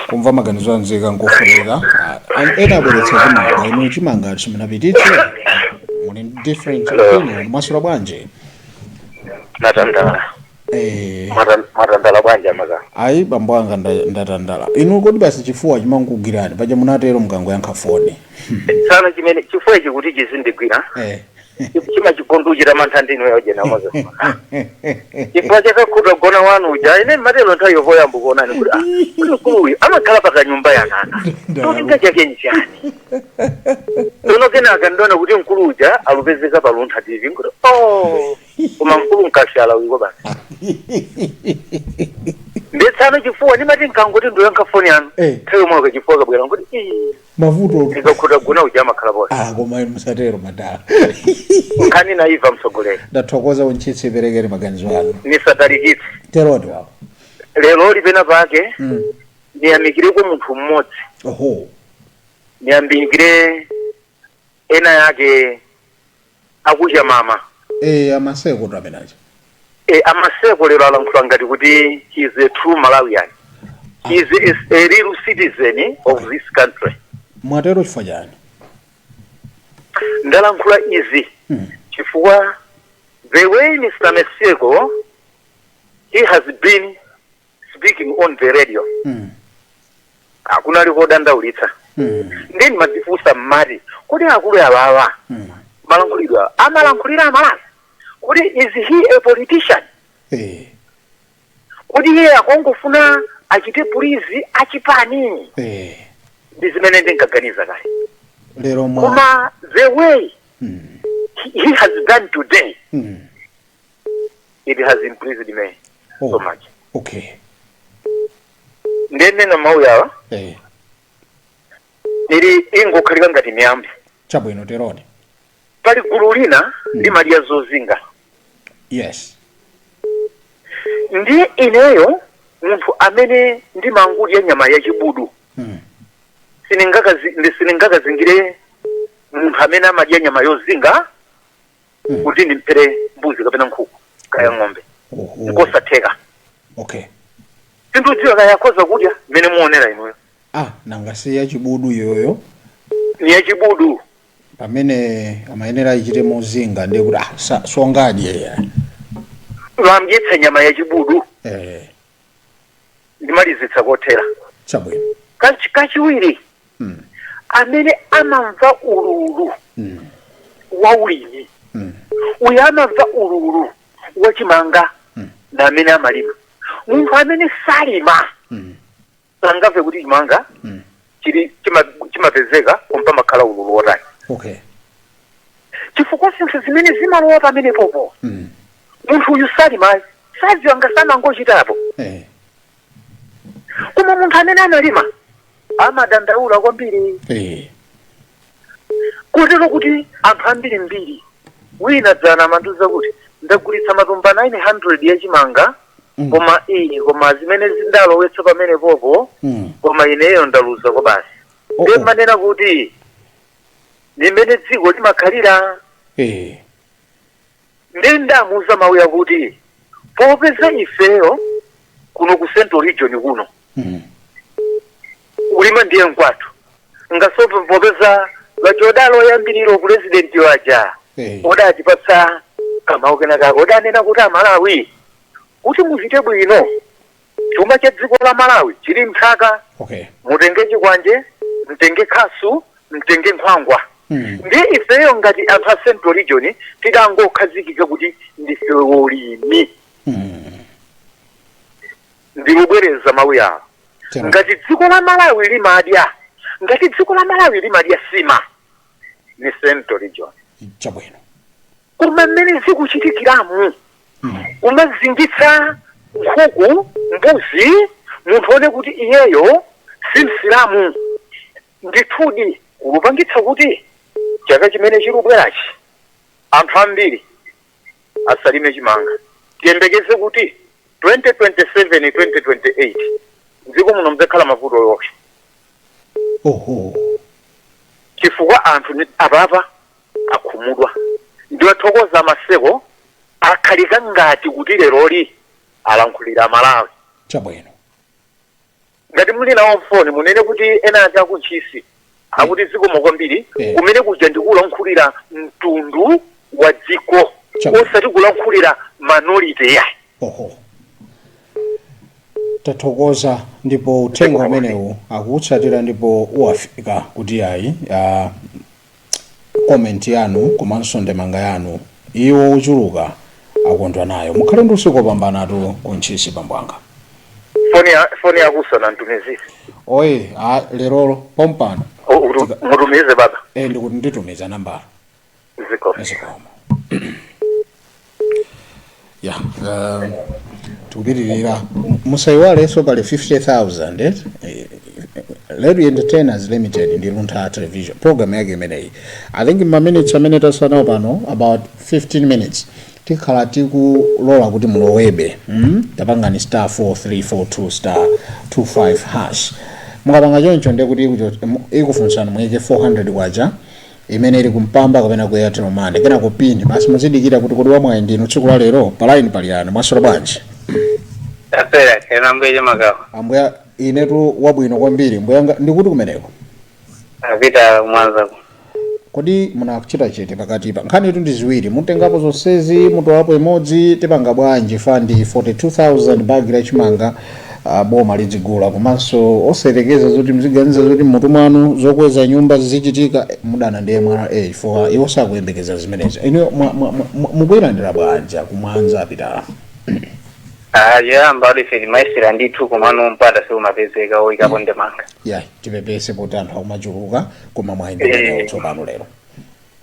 kumva maganizo a nzika nkofunika uh, and ena abweretsa chimanga inu chimanga simunapititse muli ndi different opinion mwaswera bwanji mwatandala Eh, Mwatan- mwatandala bwanji a Maga ayi bambo anga nda- ndatandala inu kodi basi chifuwa chimangugwirani paja munatero mukangoyankha foni sana chimene chifuwa ichi kuti chizindigwira Eh. chimachita kundichitira mantha ndinu yojena moza chifukwa cha kachipata kona wanu uja ine ndinatero nthawi yoyamba kuonani kuti ah, kuli mkulu uyu amakhala pa kanyumba yaka cholinga chake nchani tsono kenaka ndiona kuti mkulu uja akupezeka pa Luntha TV nkuti oh koma mkulu mkashala uliko basi ndetsano chifuwa ndimati nkangoti ndiyankhe foni yanu Eh. nthawi yomwe ukachifuwa kabwera nkuti "Ii, mavuto ndikakhuta gona uja amakhala poti ah koma inu musatero madala nkhani naiva mtsogoleri ndathokoza mutsitse perekani maganizo anu nisatalikitse teroni wawa lero lipena pake Mm. ndiyamikireko munthu mmodzi oho ndiyamikire ena yake akucha mama Eh, a Maseko tu amene aja. e, a Maseko lero alankhula ngati kuti he is a true malawian he is a, a real citizen of this country Mwatero chifukwa chani? ndalankhula izi Mm. chifukwa the way mr Maseko he has been speaking on the radio Mm. ah kunali kodandaulitsa Mm. ndiye ndimadzifunsa ndimati kodi akulu awawa Mm. malankhulidwe awa amalankhulira a Malawi kodi is he a politician Eh. kodi iye akungofuna achite pulizi achipani Eh. ndi zimene ndinkaganiza kale Lero mwa. koma the way Mm. he he has done today Mm. it has impressed me so oh, much okay nde ndinena mawu yawa eh. ili ingokhala ngati miyambi chabwino teroni pali gulu lina mm. limadya zozinga yes ndi ineyo munthu amene ndimangodya nyama ya chibudu mm. siningakazingire munthu amene amadya nyama yozinga kuti ndimphere mbuzi kapena nkhuku kaya ng'ombe Oho. ndikosatheka okay sindidziwa kaya akhoza kudya mmene mukuonera inuyo ah nanga si yachibudu iyoyo ni yachibudu pamene imayenera ichite mozinga ndiye kuti ah sa- sangadye wamdyetsa nyama yachibudu eh ndimalizitsa kotero chabwino Kachi- kachiwiri amene amamva ululu wa ulimi uyo amamva ululu wa chimanga ndi amene amalima munthu amene salima sangamve kuti chimanga chili chima- chimapezeka koma pamakhala ululu wotani okay chifukwa zinthu zimene zimalowa pamenepopo munthu uyu salimayi sadziwa ngati sanachitepo eh koma munthu amene analima amadandaula kwambiri Eh. kotero kuti anthu ambirimbiri wina dzana amandiuza kuti ndagulitsa matumba 900 ya chimanga Mm. koma iyi koma zimene ndalowetsa pamenepopo Mm. koma ineyo ndaluza kwabasi Oh, ndiye oh. mmanena kuti ndimene dziko limakhalira Eh. ndiye ndamuuza mawu yakuti popeza ifeyo kuno ku central region kuno Mm. kulima ndiye nkwathu ngakhalenso popeza vachodalo yambiriro pulezidenti waja Eh. odatipatsa kamawu kenakako odanena kuti amalawi kuti muchite bwino Chuma cha dziko la Malawi chili m'nthaka. Okay. Mtenge chikwanje, mtenge khasu, mtenge nkhwangwa. Mm. Ndiye ifeyo ngati anthu a Central Region tidangokhazikika kuti ndife olimi. Mm. Ndikubwereza mawu yawo. Tena. Ngati dziko la Malawi limadya, ngati dziko la Malawi limadya sima ni Central Region. Chabwino. koma mmene zikuchitikiramu kumazingitsa nkhuku mbuzi munthu aone kuti iyeyo si msilamu ndithudi kulupangitsa kuti chaka chimene chikubwerachi anthu ambiri asalime chimanga tiyembekeze kuti 2027 2028 mdziko muno mudzakhala mavuto yokha oho chifukwa anthu ni- apapa akhumudwa ndiwathokoza a maseko akhala ngati kuti leroli alankhulira amalawi chabwino ngati muli nawo mfoni munene kuti enaake aku Ntchisi akuti zikomo kwambiri Eh. kumene kuja ndikulankhulira mtundu wa dziko Chabo. osati kulankhulira minority yayi oho tathokoza ndipo uthenga umenewu akutsatira ndipo uwafika kuti ayi ah, comment yanu komanso ndemanga yanu iwo ochuluka akondwa nayo mukhale ndi usiku wopambanatu ku ntchisi bambo anga foni ya foni yakusa na mtumizire oye a lerolo pompano O- utu- Tika- mutumize baba e ndikuti nditumiza nambala zikomo ya um, tikupitirira musayiwalenso pali 50000 eh? Eh, Radio Entertainers Limited ndi Luntha Television program yake imeneyi I think ma minutes amene tatsala nawo pano about 15 minutes tikhala tikulola kuti mulowebe mm? tapangani star 4342 star 25 hash mukapanga choncho ndekuti ikufunsani muyike 400 kwacha imene ili kumpamba kapena ku airtel money kenako pin basi muzidikira kuti kodi wamwayi ndinu tsiku la lero pa line pali yani mwaswera bwanji tapera kena mbiri magawa ambuya inetu wabwino kwambiri mbuyanga ndikuti kumeneko apa ku Mwanza kodi munachita chete pakatipa nkhanitu ndi ziwiri mutengapo zonsezi mutolapo imodzi tipanga bwanji pa ndi 42000 bagi la chimanga a boma lidzigula komanso osayerekeza zoti mziganiza zoti mmutu mwanu zokweza nyumba zizichitika eh, mudana ndi mra chifukwa iwo sakuyembekeza zimenezo inu mwa- mwa- mwa- mukuyilandira bwanji kumwanza apitala Ah, yoyamba adife ndimayesera ndithu komano mpata siumapezeka oyikapo ndemanga ya tipepese poti anthu akumachuluka koma mwayenderera Eh. tsopano lero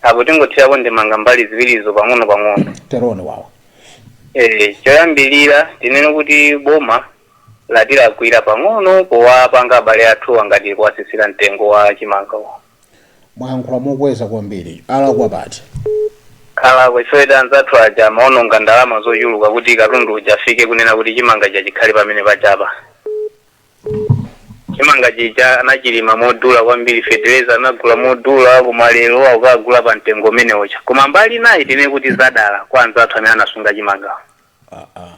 apo tingothirapo ndemanga mbali ziwirizo pang'ono pang'ono teroni wawa Eh, choyambirira tinene kuti boma latilakwira pang'ono powapanga abale athuwa ngati kuwasisira mtengo wa chimangawo mwayankhula mokweza kwambiri alakwa pati alakwa chifukwa anzathu aja amaononga ndalama zochuluka kuti katundu uja afike kunena kuti chimanga chija chikhale pamene paja pa chimanga chija anachilima modula kwambiri fetereza anagula modula koma lero akukagula pa mtengo umene uja koma mbali inayi tinene kuti zadalira kwa anzathu amene anasunga chimangawo Ah, ah.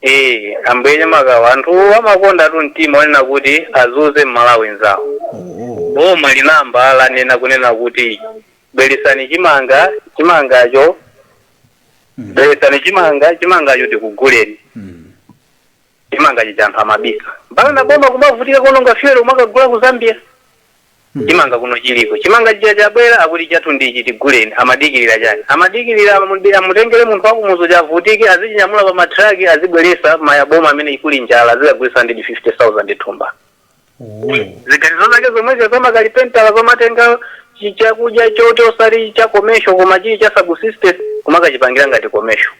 ee ambuye chimakawa anthu amakondatu mtima onena kuti azuze mmalawi nzawo Oh, oh. boma linayamba lanena kunena kuti bweresani chimanga chimangacho bweresani chimanga chimangacho tikuguleni Mm. chimanga chija anthu amabisa mpaka na boma kumavutika kuononga fuel kumakagula ku zambia chimanga kuno chiliko chimanga chija chabwera akuti chathu ndichi tiguleni amadikirira chani amadikirira amude- amutengere munthu wakumuzi uja avutike azichinyamula pa matraki azibweresa m'maboma amene kuli njala azikagulisa ndi 50000 thumba Oh. ziganizo zake zomwezo zamakalipentala zomatenga chi- chakudya choti osati cha commercial koma chili cha subsistence kumakachipangila ngati commercial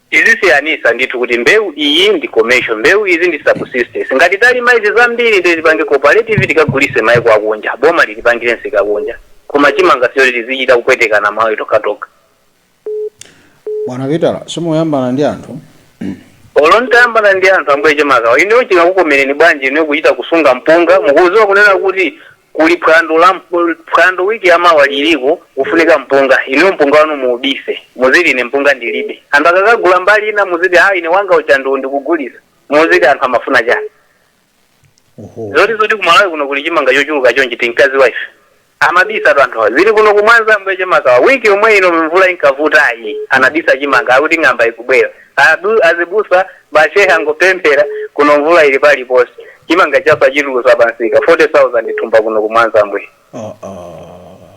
Tizisiyanisa ndithu kuti mbewu iyi ndi commercial mbewu izi ndi subsistence. Ngati talima izi zambiri ndiye tipange cooperative tikagulise maiko akunja boma litipangire msika kunja koma chimanga sichoti tizichita kupwetekana amalawi tokhatokha. Bwana Pitala simuyambana ndi anthu. Olo nitayambana ndi anthu ambuye chimakawa inuyo chingakukomereni bwanji inuyo kuchita kusunga mpunga mukuziwa kunena kuti Kuli phwando la phwando week ya mawa liliko kufunika mpunga inuyo mpunga wanu muubise muziti ine mpunga ndilibe anthu akakagula mbali ina muziti aa ine wanga uja ndiwo ndikugulisa muziti anthu amafuna chani oho zoti zoti kumalawi kuno kuli chimanga chochuluka chonchi tinkaziwa ife amabisatu anthu awa zili kuno kumwanza ambuye chimakawa wiki yomwe ino mvula inkavutayi anabisa chimanga akuti ng'amba ikubwera Abu azibusa ma shehe angopemphera kuno mvula ili paliponse chimanga chija achitulusa pansika 40000 thumba kuno ku mwanza ambuye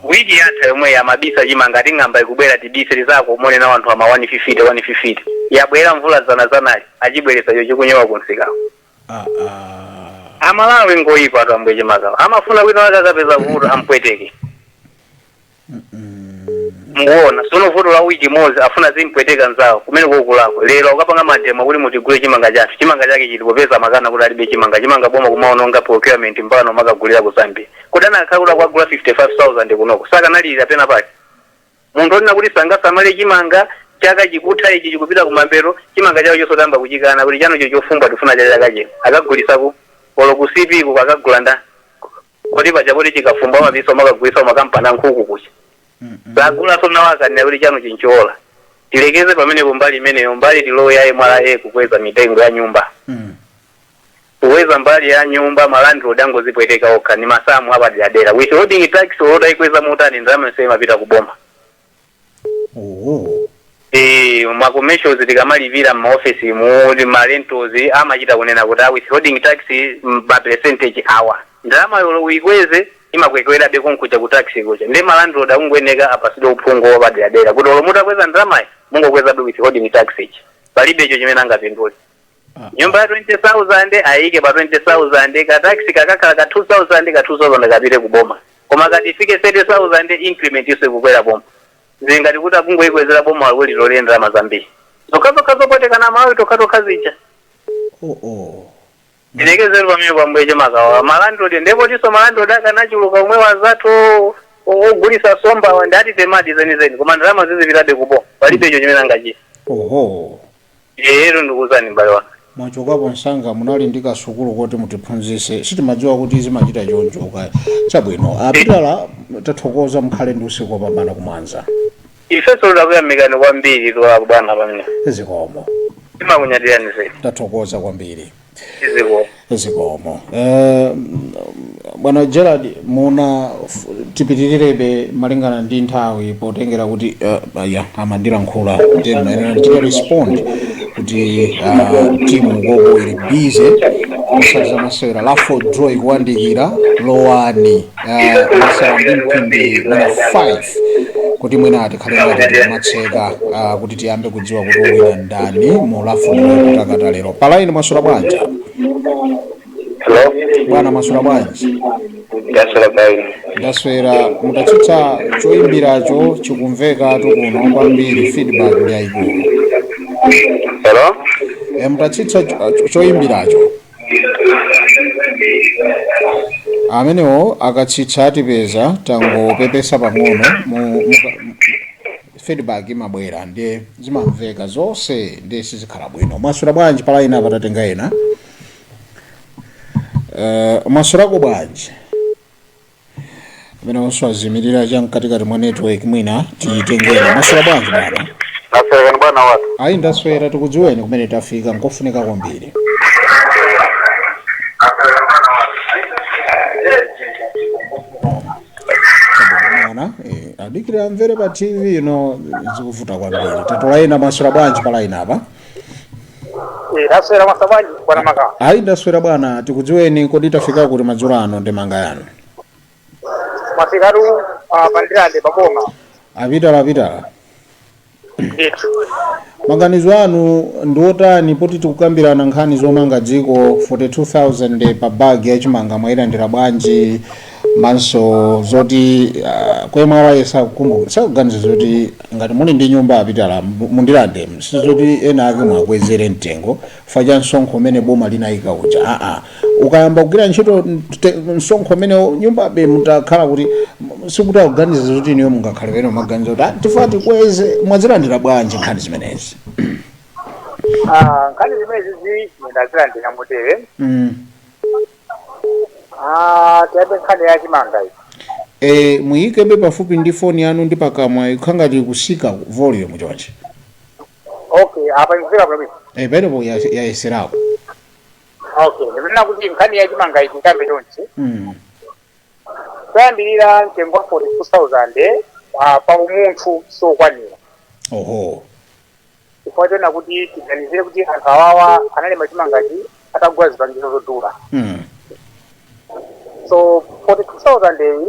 wiki yatha yomweyi amabisa chimanga ati ng'amba ikubwera tibise tizakaonana nawo anthu ama 150 150 yabwera mvula zana zanali achibweresa icho chikunyowa kunsikawo amalawi ngoyipatu ambuye chimakawa amafuna wina wake akapeza vuto ampweteke mukuona sono vuto la wiki imodzi afuna zimupweteka nzawo kumene kokulako lero ukapanga mademo kuti mutigule chimanga chathu chimanga chake chili popeza amakana kuti alibe chimanga chimanga boma kumaononga procurement mpaka amakagulira ku zambia kuti anakhala kuti akwagula 55000 kunoko sakanalilira pena pake munthu onena kuti sangasamale chimanga chaka chikutha ichi chikupita kumambero chimanga chawo chosatamba kuchikana kuti chanocho chofumba tifuna cha chaka chino akagulisa ku olo ku cp ku akagula nda Kodi paja kuti chikafumbwe amapisa amakagulisa kumakampani ankhuku kuja? Sagulanso nawo akananena kuti chanuchi nchowola. Tilekeze pamenepo mbali imeneyo, mbali tilowe ya mra kukweza mitengo ya nyumba. Kukweza mbali ya nyumba ma landlord akungozipweteka okha ndi masamu apaderadera. Withholding tax olo utayikweza motani ndalama yonseyo imapita kuboma. oho Eh, ma commercials tikamalipira m'maofesi mu ma rentals amachita kunena kuti withholding tax mm, ma percentage awa ndalamayo olo uyikweze imakwekwerabe konkuja ku tax kuja ndiye malandlord akungoyeneka apasidwe uphungu wapaderadera kuti olo mutakweza ndalamayo mungokwezabe withholding tax ija palibe icho chimene angapindule Ah, nyumba ya 20000 ayike pa 20000 ka tax kakakhala ka 2000 ka 2000 kapite ku boma koma akati ifike 30000 increment yonse kukwera kuboma zingati kuti akungoyikwezera boma walikuti lolere ndalama zambiri zokhazokha zopwetekana amalawi tokhatokha zija oh, oh. ndilekezere pamenepo pambuyeche makawa malandlord ndiye potinso malandlord akanachuluka omwe anzathu o- o- ogulisa nsombawa ndati eyadi zenizeni koma ndalama zizipitabe kuboma palibe icho chimene angachita oho Eyetu ndikuuzani m'bale wanga. Mwachokapo msanga munali ndi kasukulu koti mutiphunzise sitimadziwa kuti zimachita chonchoka chabwino a Pitala tathokoza mukhale ndi usiku wopambana ku Mwanza Ifeso takuyamikani kwambiri bwana pamenepo. zikomo Timakunyadirani zedi. tathokoza kwambiri iziko zikomo Eh, bwana Gerald muna f- tipitirirebe malingana ndi nthawi potengera kuti eh, aya amandilankhulitsa kuti ndimayenera ndichite respond kuti ah, timu yathu ili bize kusanthula zamasewera raffle draw ikuwandikira lowani masewera ndi mphindi mwina 5 kuti mwina tikhale ngati tikutseka ah, kuti tiyambe kudziwa kuti awina ndani mu raffle draw kutakata lero palaini mwaswera bwanji Hello? bwana mwaswera bwanji Mwaswera bwanji. ndaswera mutatsitsa choyimbiracho chikumveka kunoko kwambiri feedback ndi yayikulu Hello? e, mutatsitsa cho- cho- choyimbiracho amenewo akatsitsa atipeza tangopepesa pang'ono mu- mu- mu- feedback imabwera ndiye zimamveka zonse ndiye sizikhala bwino mwaswera bwanji palaini apa tatenga ena uh, mwaswerako bwanji amenenso azimirira cha mkatikati mwa network mwina tiyitengere maswera bwanji bwana ndaswera kaya bwana watu ayi ndaswera tikudziweni kumene tafika nkofunika kwambiri bwana eh, adikira amvere pa tv ino zikuvuta kwambiri tatola ena maswera bwanji pa layini apa Eh, ndaswera maswera bwanji bwana maka. ayi ndaswera bwana tikudziweni kodi tafika kuti madzulo ano ndi mbali yanu Masikatu ah, pa Ndirande paboma. a Pitala a Pitala Ndithu. maganizo anu ndi otani poti tikukambirana nkhani zomanga dziko 42000 pa bag ya chimanga mwayilandira bwanji komanso zoti ah, kwemwe awaye sakukumbuka sakuganiza zoti ngati muli ndi nyumba a Pitala mu- mu Ndirande si zoti ena ake mwakwezere mtengo chifukwa cha msonkho umene boma linayika uja aa ukayamba kugwira ntchito mte- msonkho umene nyumbabe mutakhala kuti m- sikuti akuganiza zoti iniyo mungakhale ndi maganizo kuti "Ah, tifuna tikweze mwazilandira bwanji nkhani zimenezi Ah, nkhani zimenezizi ndazilandira motere Mm, Ah, tiyambe nkhani ya chimanga iyi. e, muyikebe pafupi ndi foni yanu ndi pakamwa ikukhala ngati ikutsika volume chonchi Okay, apa ikufika bwino. e, pamenepo ya- yayeserako Okay, ndikunena kuti nkhani ya chimanga iyi tiyambe chonchi. mm. Kuyambirira mtengo wa 42,000 ah, pa umunthu sokwanira. oho chifukwa choona kuti tiganizire kuti anthu awawa analima chimangachi atagula zipangizo zodula Mm. so 42000 iyi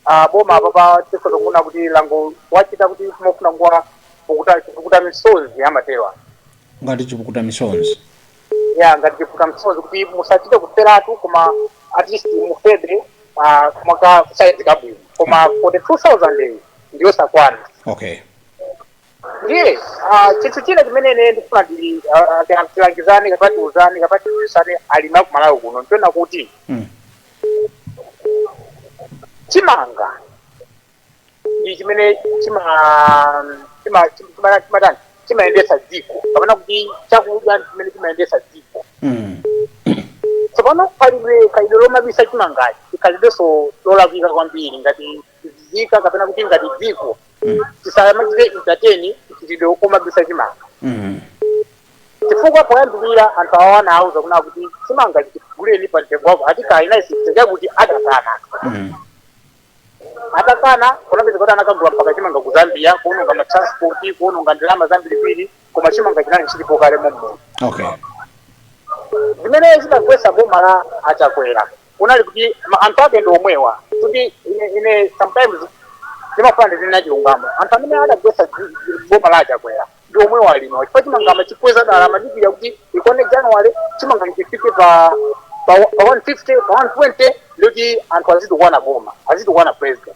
uh, boma apapa tikhoza kuona kuti langowachita kuti mofuna kuwapukuta chipukuta misozi amatewa ngati chipukuta misozi ya ngati chipukuta misozi kuti musachite kuferatu koma at least mufebe uh, koma ka saizi kabwino koma 42000 iyi ndiyosakwana okay ndiye ah, chinthu china chimene ine ndifuna ndi- ah, ah, ti- tilangizane kapena tiuzane kapena tiuzane alimi a ku Malawi kuno nchonena kuti Mm. chimanga ndi chimene chima chima chima chimatani chimayendetsa dziko kapena kuti chakudya ndi chimene chimayendetsa dziko Mm. tsopano khalidwe lomabisa chimangachi ndi khalidwenso lolakwika kwambiri ngati nzika kapena kuti ngati dziko tisamachite entertain mchitidwe omabisa chimanga Mm. chifukwa poyambirira anthu awa anawuza kunena kuti chimanga tiguleni pa mtengo wakuti anakana zisachitike anakana Mm. atakana kunapezeka kuti anakagula mpaka chimanga ku Zambia kuononga matransport kuononga ndalama zambirimbiri koma chimanga chinali chilipo kale mommuno Okay. zimene zidagwetsa boma la a Chakwera kunali kuti ma- anthu ake ndi omwewa kuti ine- ine sometimes ndimafuna ndizinena chilungamo anthu amene adagwetsa dzi- dzi- boma la achakwera ndi omwewa alino chifukwa chimanga amachikweza dala amadikira kuti ikwane january chimanga chifike pa pa pa 150 pa 120 ndikuti anthu azitukwana boma azitukwana president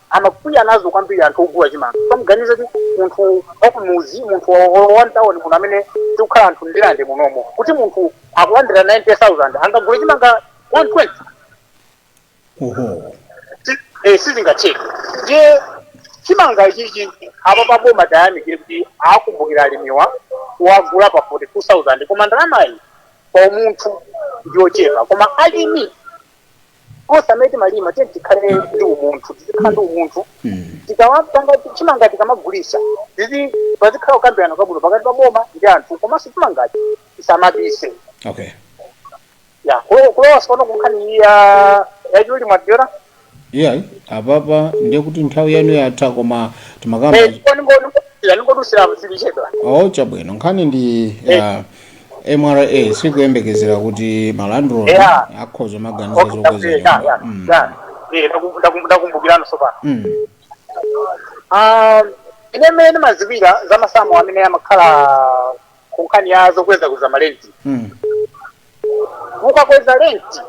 amakwiya nazo kwambiri anthu ogula chimanga samuganiza kuti munthu wakumudzi munthu wamtawoni muno amene tikukhala anthu Ndirande munomo kuti munthu akulandira 90000 angagule chimanga 120 oho Si- eh, sizingatheke ndiye chimanga ichichi apa pa boma tiyamikire kuti akumbukira alimiwa kuwagula pa 42000 koma ndalamayi pa umunthu ndiyochepa koma alimi onse amene timalima tiyeni tikhale ndi umunthu tizikhala ndi umunthu tikawapanga chimanga tikamagulisa tizi pazikhala kukambirana kwabwino pakati pa boma ndi anthu komanso chimangachi tisamabise okay ya kulo- kulowa sopano kunkhani iyi ya yachuli mwadyera iyayi apapa ndiye kuti nthawi yanu yatha koma timakamba ningodusira zilichedwa oh chabwino nkhani ndi ya mra sikuyembekezera kuti malandlord Yeah. akhoza maganizo Okay, zokweza okay, yeah, nyumba yeah, Mm. yeah. Eh, ndaku- ndaku- ndakumbukirano sopano Mm. Ah, ine mmene ndimaziwira za masamu amene amakhala ku nkhani ya zokweza kuza malenti Mm. ukakweza lenti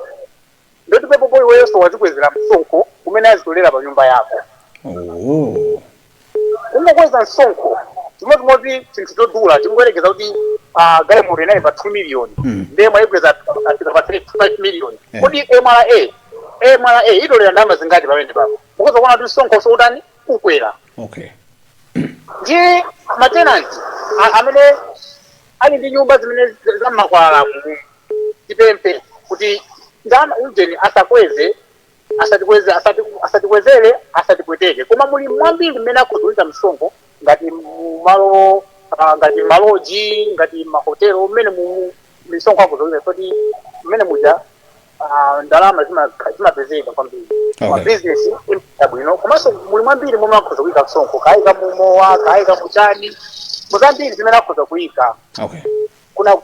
Nde kuti pepapo iweyoso wazikwezera msonkho umene azitolera pa nyumba yako. Oooh. Kungokweza msonkho chimodzimodzi chinthu chodula tingoyerekeza kuti ah, galimoto inali pa 2 million Mm. ndiye mwayikweza afika pa 3 5 million Eh. kodi mra mra itolera ndalama zingati pamenepapo mukhoza kuona kuti msonkho siutani ukwera Okay. ndiye matenanti a- amene ali ndi nyumba zimene za- za mmakwalalamu tipemphe kuti ndama ujeni asakweze asatikweze asati asatikwezele asatipweteke koma muli mwambiri mmene akhoza kuyika msonkho ngati mu malo ah, ngati maloji ngati mahotelo mmene mu misonkho akhoza kuyika kuti mmene muja ah, ndalama zima- zimapezeka kwambiri Okay. mabizinesi amayenda bwino komanso muli mwambiri momwe akhoza kuyika msonkho kayika mumowa kayika muchani muzambiri zimene akhoza kuyika okay kuna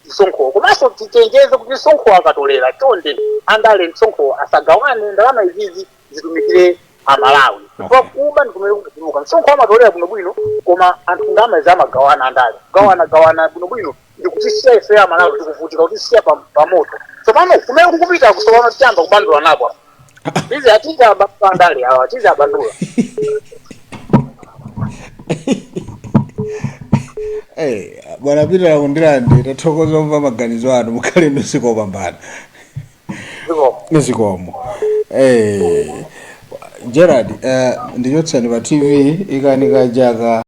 msonkhowo komanso tichenjeze kuti msonkhowo akatolera chonde andale msonkhowo asagawane ndalama izizi zitumikire amalawi chifukwa Okay. kuba ndikumene kukutuluka msonkho amatolera bwinobwino koma anthu ndalama izi amagawana andale kugawana gawana bwinobwino ndikutisiya ife amalawi tikuvutika kutisiya pa- pamoto tsopano kumene kukupita kusopano tiyamba kubandula napo Tizi atizibandula andale awa atizibandula. Hey, bwana Peter ku Ndirande tathokoza kumva maganizo anu mukhale ndi usiku wopambana Zikomo. zikomo hey. Gerard uh, ndichotsani pa tv ikanika jaka